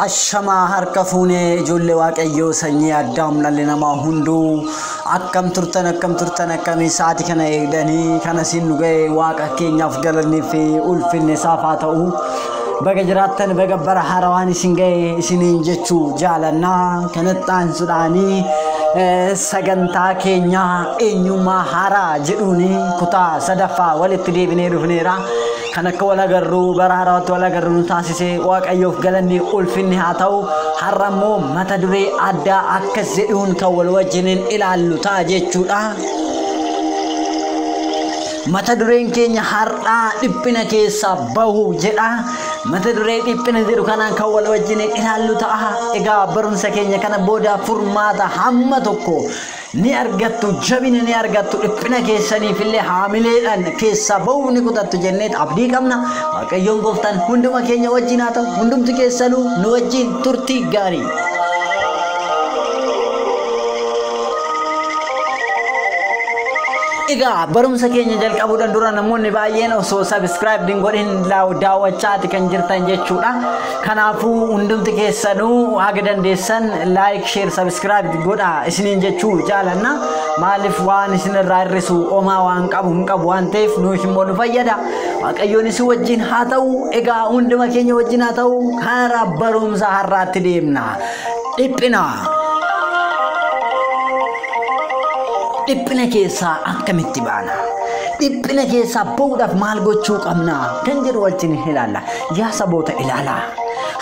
Ashamaa harka fuunee ijoollee waaqayyoo sanyii addaam dhalli namaa hunduu akkam turtan akkam turtan akkamii sa'aatii kana eegdanii kana siin nu ga'e waaqa keenyaaf galanni fi ulfinni isaaf haa ta'u. Baga jiraattan baga bara haarawaan isin ga'e isiniin jechuu jaalanna kanatti aansuudhaanii eh, sagantaa keenya eenyummaa haaraa jedhuun kutaa sadaffaa walitti deebinee dhufneera. Kan akka wal agarru bara haaraatti wal agarru nu taasise waaqayyoof galanni ulfinni haa ta'u har'a immoo mata duree addaa akkas jedhuun kan wal wajjiniin ilaallu ta'a jechuudha. Mata dureen keenya har'aa dhiphina keessaa bahu jedha. Mata duree dhiphina jedhu kanaan kan wal wajjin ilaallu ta'a. Egaa barumsa keenya kana booda furmaata hamma tokko ni argattu, jabina ni argattu, dhiphina keessaniif illee haamileedhaan keessaa bahuuf ni kutattu jenneet abdii qabna. Waaqayyoon gooftaan hunduma keenya wajjin haa ta'u, hundumti keessanuu nu wajjin turtii gaarii. Egaa barumsa keenya jalqabuudhaan dura namoonni baay'een osoo subscribe hin godhin laaw- daawwachaati kan jirtan jechuudha. Kanaafuu hundumti keessanuu haga dandeessan like, share, subscribe godhaa isiniin jechuu jaalanna. Maaliif waan isin irraa hir'isu omaa waan qabu hin qabu waan ta'eef nuuf immoo nu fayyada. Waaqayyoon isin wajjin haa ta'u. Egaa hunduma keenya wajjin haa ta'u. Karaa barumsa har'aatti deemna. Dhiphinaa Dhiphina keessaa akkamitti baana? Dhiphina keessaa ba'uudhaaf maal gochuu qabna? Kan jedhu wajjin ilaalla. Yaa saboota ilaalaa.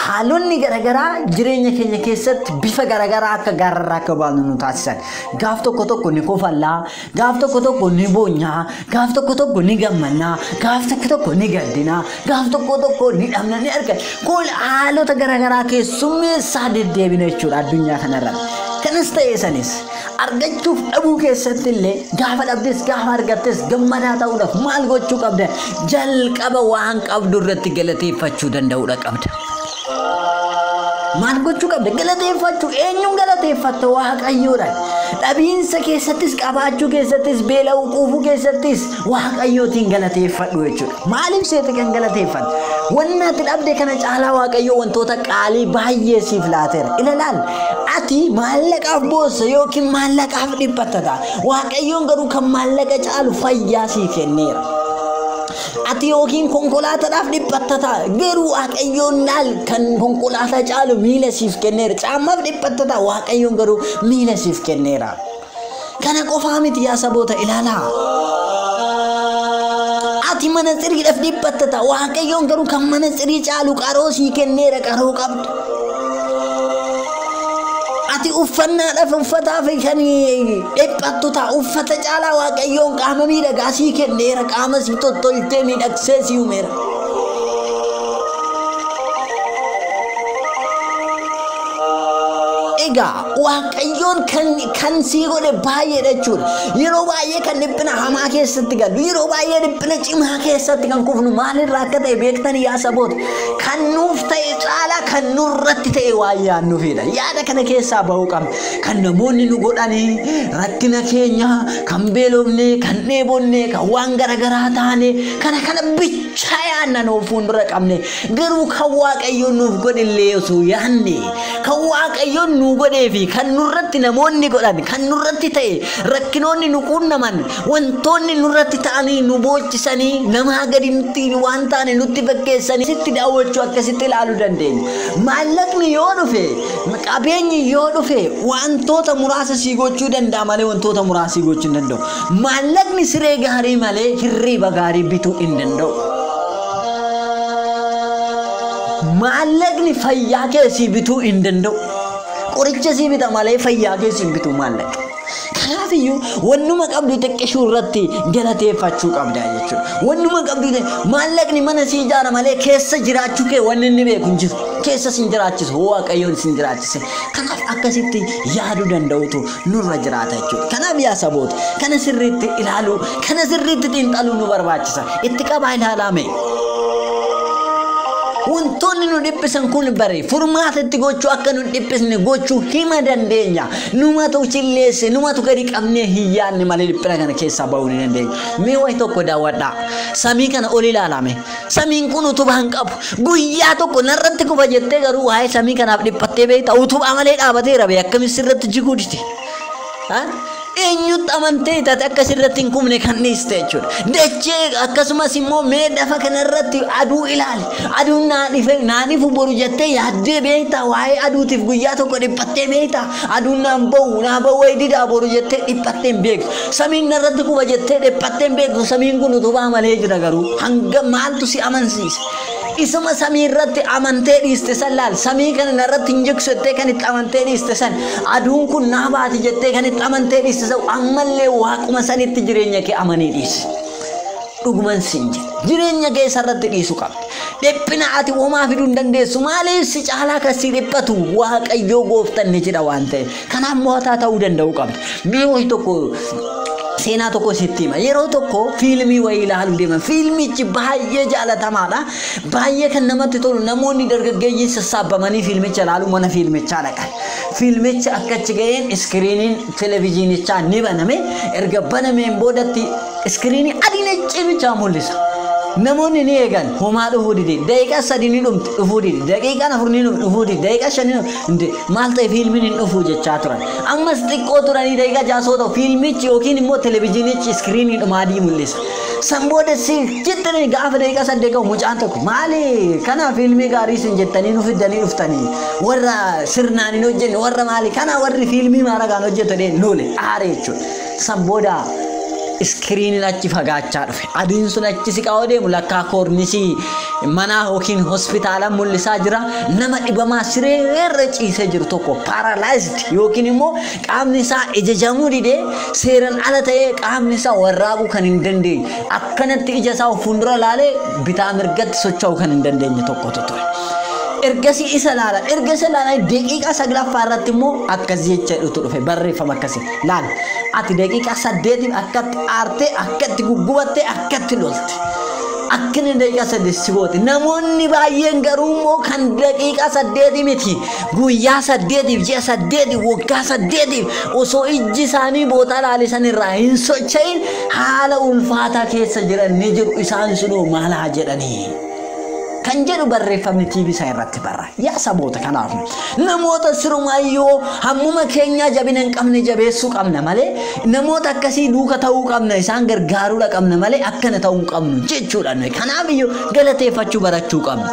Haalonni garaagaraa jireenya keenya keessatti bifa garaagaraa akka gaararraa akka baanu nu taasisan. Gaaf tokko tokko ni kofallaa, Gaaf tokko tokko ni boonya, gaaf tokko tokko ni gammanna, gaaf tokko tokko ni gaddina, gaaf tokko tokko ni dhabna ni argina. Kun haalota garaagaraa keessummeessaa deddeebina jechuudha addunyaa kanarra. Kanas ta'ee sanis argachuuf dhabuu keessatti illee gaafa dhabdes gaafa argattes gammadaa ta'uudhaaf maal gochuu qabda? Jalqaba waan qabdu irratti galateeffachuu danda'uudha qabda. Maal gochuu qabda? Galateeffachuu. Eenyuun galateeffatta? Waaqayyoodhaan. Dhabiinsa keessattis, qabaachuu keessattis, beela'uu quufuu keessattis waaqayyootiin galateeffadhu jechuudha. Maaliif seete kan galateeffatte? Wanni ati dhabde kana caalaa waaqayyoo wantoota qaalii baay'ee siif laateera. Ilaalaal ati maallaqaaf boossa yookiin maallaqaaf dhiphatta ta'a. Waaqayyoon garuu kan maallaqa caalu fayyaa sii kenneera. Ati yookiin konkolaataadhaaf dhiphatta ta'a. Garuu Waaqayyoon naal kan konkolaataa caalu miila siif kenneera. Caammaaf dhiphatta ta'a. Waaqayyoon garuu miila siif kenneera. Kana qofaa miti yaa saboota ilaalaa. Ati mana siriidhaaf dhiphatta ta'a. Waaqayyoon garuu kan mana sirii caalu qaroo sii kenneera qaroo qabdu. Ati uffannaadhaaf uffataa fi kan dhiphattu ta'a. Uffata caalaa Waaqayyoon qaama miidhagaa sii kenneera. Qaama si tottolchee miidhagsee si uumeera. Egaa Waaqayyoon kan, kan sii godhe baay'eedha jechuudha. Yeroo baay'ee kan dhiphina hamaa keessatti galu, yeroo baay'ee dhiphina cimaa keessatti kan kufnu maalirraa akka ta'e beektanii yaa saboota. Kan nuuf ta'e caalaa kan nurratti ta'e waan yaadnuufidha. Yaada kana keessaa ba'uu qabna. Kan namoonni nu godhanii, rakkina keenya, kan beelofne, kan dheebonne, kan waan garaagaraa taane, kana kana bicha yaadna nu fuuldura qabne. Garuu kan Waaqayyoon nuuf godhillee osoo yaadne, kan Waaqayyoon nu godhee fi kan nurratti namoonni godhan, kan nurratti ta'e, rakkinoonni nu quunnaman, Wantoonni nurratti ta'anii nu boochisanii namaa gadi nutti waan taane nutti fakkeessanii sitti daawwachuu akkasitti ilaaluu dandeenya. Maallaqni yoo dhufe, qabeenyi yoo dhufe wantoota muraasa sii gochuu danda'a malee wantoota muraasa sii gochuu hin danda'u. Maallaqni siree gaarii malee hirriiba gaarii bituu hin danda'u. Maallaqni fayyaa kee sii bituu hin danda'u. Qoricha sii bita malee fayyaa kee sii hin bitu maallaqni. Kanaaf iyyuu wannuma qabdu xiqqishuu irratti galateeffachuu qabda jechuudha. Wannuma qabdu maallaqni mana si ijaara malee keessa jiraachuu kee wanni inni beeku hin jiru. Keessa sin jiraachisu hoo waaqayyoon sin jiraachise. Kanaaf akkasitti yaaduu danda'utu nurra jiraata jechuudha. Kanaaf yaa saboota kana sirriitti ilaaluu kana sirriitti xiinxaluu nu barbaachisa. Itti qabaa ilaalaa mee. Wantoonni nu dhiphisan kun bari furmaata itti gochuu akka nu hin dhiphisne gochuu hima dandeenya. Numatu cilleesse, numatu gadi qabnee hin yaadne malee dhiphina kana keessaa ba'uu ni dandeenya. Mee wayi tokko daawwadhaa. Samii kana ol ilaalame. Samiin kun utubaa hin qabu. Guyyaa tokko narratti kufa jettee garuu waa'ee samii kanaaf dhiphattee beekta. Utubaa malee dhaabateera bee akkamis sirratti jiguu dide. Eenyutti amantee taate akka sirratti hin kufne kan dhiiste jechuudha. Dachee akkasumas immoo mee lafa kanarratti aduu ilaali. Aduun naa dhife naa dhifu boru jettee yaaddee beektaa waa'ee aduutiif guyyaa tokko dhiphattee beektaa aduun naan ba'u naa ba'u wayi didaa boru jettee dhiphattee hin beektu samiin narratti quba jettee dhiphattee hin beektu samiin kun utubaa malee jira garuu hanga maaltu si amansiise isuma samii irratti amantee dhiiste san laal samii kana narratti hin jigsu jettee kan itti amantee dhiiste san aduun kun naa baati jettee kan itti amantee dhiiste san ammallee waaquma sanitti jireenya kee amanii dhiise. Dhuguman siin jedha. Jireenya kee isarratti dhiisu qabda. Dhiphina ati homaa fiduu hin dandeessu. Maaliif si caalaa kan si dhiphatu Waaqayyoo gooftan ni jira waan ta'eef. Kanaaf mo'ataa ta'uu danda'uu qabda. Mee wayi tokko seenaa tokko sitti hima. Yeroo tokko fiilmii wayii ilaaluu deeman. Fiilmichi baay'ee jaalatamaadha. Baay'ee kan namatti tolu namoonni dargaggeeyyii sassaabamanii fiilmicha ilaaluu mana fiilmichaa dhaqan. Fiilmichi akka achi ga'een iskiriiniin televezyiinichaa ni baname. Erga banameen boodatti Iskiriinii adii naccii bichaa mul'isa. Namoonni ni eegan homaa dhufuu dide daqiiqaa sadii ni dhumti dhufuu dide daqiiqaan afur ni dhumti dhufuu dide daqiiqaa shan ni dhumti maal ta'e fiilmiin hin dhufuu jechaa turan ammas xiqqoo turanii daqiiqaa ja'a soo ta'u fiilmichi yookiin immoo televezyiinichi iskiriinii dhuma adii mul'isa san booda si jettanii gaafa daqiiqaa saddeet ga'u mucaan tokko maali kanaa fiilmii gaarii isin jettanii nu fiddanii dhuftanii warra sirnaan hin hojjenne warra maali kanaa warri fiilmii maaragaan hojjetu dheen loole aare jechuudha. San booda iskiriiniin achi fagaachaa dhufe. Adiin sun achi siqaa deemu lakkaa koornisii manaa yookiin hospitaala mul'isaa jira. Nama dhibamaa siree irra ciisee jiru tokko paralyzed yookiin immoo qaamni isaa ijajamuu didee seeran ala ta'ee qaamni isaa warraaquu kan hin dandeenye akkanatti ija isaa of fuuldura laalee bitaa mirgatti socho'uu kan hin dandeenye tokkotu ture. ergasii isa laalan erga isa laalan daqiiqaa saglaffaa irratti immoo akkas jecha jedhutu dhufe barreeffama akkasii Laal, ati daqiiqaa saddeetiif akkatti aartee, akkatti guggubattee, akkatti lolte. Akka inni daqiiqaa saddeet si goote. Namoonni baay'een garuu immoo kan daqiiqaa saddeetii miti. Guyyaa saddeetiif, ji'a saddeetiif, waggaa saddeetiif osoo ijji isaanii bootaa laalisan irraa hin socho'in haala ulfaataa keessa jiran ni jiru. Isaan sunoo maal haa jedhanii? kan jedhu barreeffamni TV isaa irratti barra. Yaa saboota kanaaf namoota sirumaayyoo hammuma keenyaa jabina hin qabne jabeessuu qabna malee namoota akkasii duuka ta'uu qabna isaan gargaaruudha qabna malee akkana ta'uu hin qabnu jechuudha nuyi. Kanaaf iyyuu galateeffachuu barachuu qabna.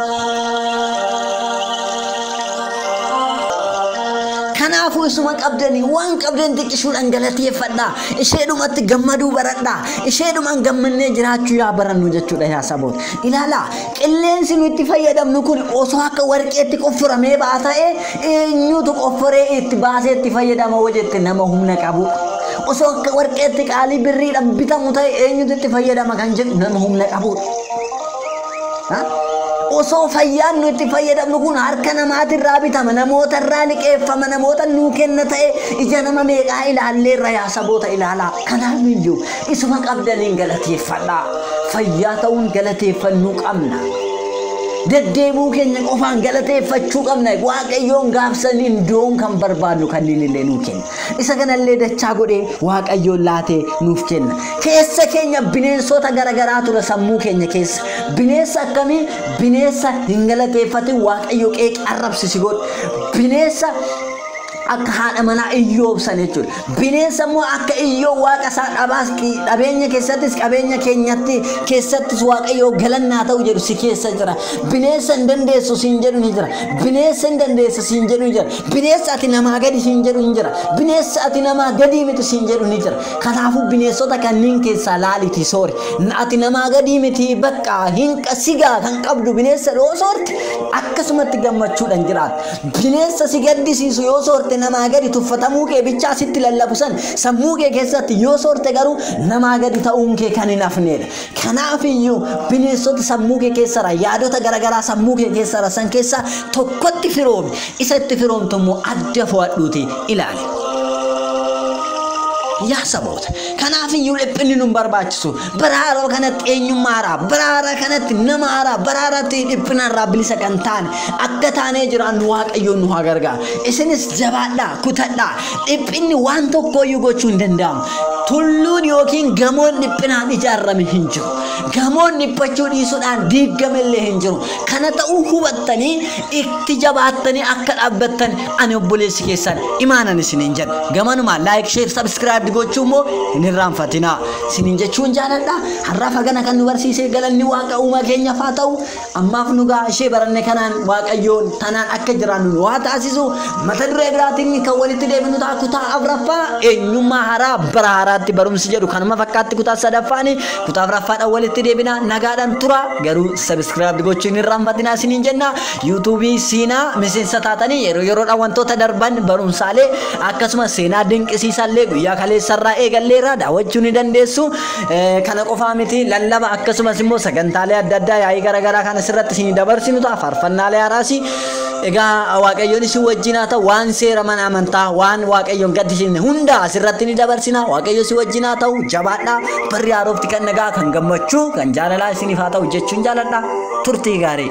Kanaafuu isuma qabdanii waan qabdan xiqqishuudhaan galateeffadhaa. Isheedhumatti gammaduu baradhaa. Isheedhumaan gammannee jiraachuu yaa barannu jechuudha yaa saboota. Ilaalaa, qilleensi nu itti fayyadamnu kun osoo akka warqeetti qofforamee ba'a ta'e eenyutu qofforee itti baasee itti fayyadama hoo jette nama humna qabudha. Osoo akka warqeetti qaalii birriidhaan bitamu ta'e eenyutu itti fayyadama kan jedhu nama humna qabudha. Ha? Osoo fayyaan nu itti fayyadamnu kun harka namaatirraa bitama, namoota irraa liqeeffama, namoota nuu kenna ta'e ija nama meeqaa ilaallee irra yaa saboota ilaalaa. Kanaaf iyyuu Isuma qabdaniin galateeffadhaa. Fayyaa ta'uun galateeffannuu qabna. Deddeebuu keenya qofaan galateeffachuu qabna. Waaqayyoon gaafsan indoon kan barbaadnu kanneen illee nuu kenna. Isa kanallee dachaa godhee Waaqayyoon laatee nuuf kenna. Keessa keenya bineensota garaagaraa ture sammuu keenya keessa. Bineensa akkamii? Bineensa hin galateeffatin Waaqayyo qeeqee arrabsisi godhu. Bineensa akka haadha manaa Iyyoob sana jechuudha. Bineensa immoo akka Iyyoob waaqa isaa dhabaas dhabeenya keessattis qabeenya keenyatti keessattis waaqayyoo galannaa ta'u jedhu si keessa jira. Bineensa hin dandeessu siin jedhu ni jira. Bineensa hin dandeessa siin jedhu ni jira. Bineensa ati namaa gadi siin jedhu ni jira. Bineensa ati namaa gadii miti siin jedhu ni jira. Kanaafuu bineensota kanneen keessaa laalitii soori. Ati namaa gadii miti bakka hin sigaa kan qabdu bineensa dhoo soorti akkasumatti gammachuudhaan jiraata. Bineensa si gaddisiisu yoo soorte namaa gadi tuffatamuu kee bichaa sitti lallabu san sammuu kee keessatti yoo soorte garuu namaa gadi ta'uun kee kan hin hafneedha. Kanaaf iyyuu bineensota sammuu kee keessara yaadota garagaraa sammuu kee keessara san keessaa tokkotti firoomi. Isa itti firoomtu immoo adda fo'adhuuti ilaali. Yaa saboota! Kanaaf iyyuu dhiphinni nun barbaachisu. Bara haaraa kanatti eenyummaa haaraa, bara haaraa kanatti nama haaraa, bara haaraatti dhiphina irraa bilisa kan taane akka taanee jiraannu Waaqayyoon nu haa gargaaru. Isinis jabaadhaa, kutadhaa. Dhiphinni waan tokko iyyuu gochuu hin danda'amu. Tulluun yookiin gamoon dhiphinaan ijaarame hin jiru. Gamoon dhiphachuu dhiisuudhaan diigame illee hin jiru. Kana ta'uu hubattanii itti jabaattanii akka dhaabbattan Ani obboleessi keessan imaanan isiniin jedha. Gamanumaan like, share, subscribe gochuu immoo hin irraanfatinaa. Isiniin jechuun jaaladha. Har'aaf hagana kan nu barsiisee galanni waaqa uumaa keenyaaf haa ta'u. Ammaaf nu gahaa ishee baranne kanaan waaqayyoon tanaan akka jiraannu nu haa taasisu. Mata duree biraatiin kan walitti deebinu ta'a kutaa afraffaa eenyummaa haaraa bara haaraatti barumsi jedhu kanuma fakkaatti kutaa sadaffaani kutaa afraffaadhaan walitti deebina nagaadhaan tura garuu subscribe gochuu hin irraanfatinaa isiniin jenna. YouTube siinaa miseensa taatanii yeroo yeroodhaan wantoota darban barumsaalee akkasumas seenaa dinqisiisaallee guyyaa kaleessarraa eegalleerraa daawwachuu ni dandeessu. Eh, Kana qofaa miti lallaba akkasumas immoo sagantaalee adda addaa yaa'ii garaagaraa kan asirratti isinii dabarsinu ta'a faarfannaalee haaraasi. Egaa waaqayyoon isin wajjin haa ta'u waan seera mana amantaa waan waaqayyoon gaddisiisne hunda asirratti ni dabarsina waaqayyo isin wajjin haa ta'u jabaadhaa barri haarofti kan nagaa kan gammachuu kan jaalalaa isiniif haa ta'u jechuun jaaladha turtii gaarii.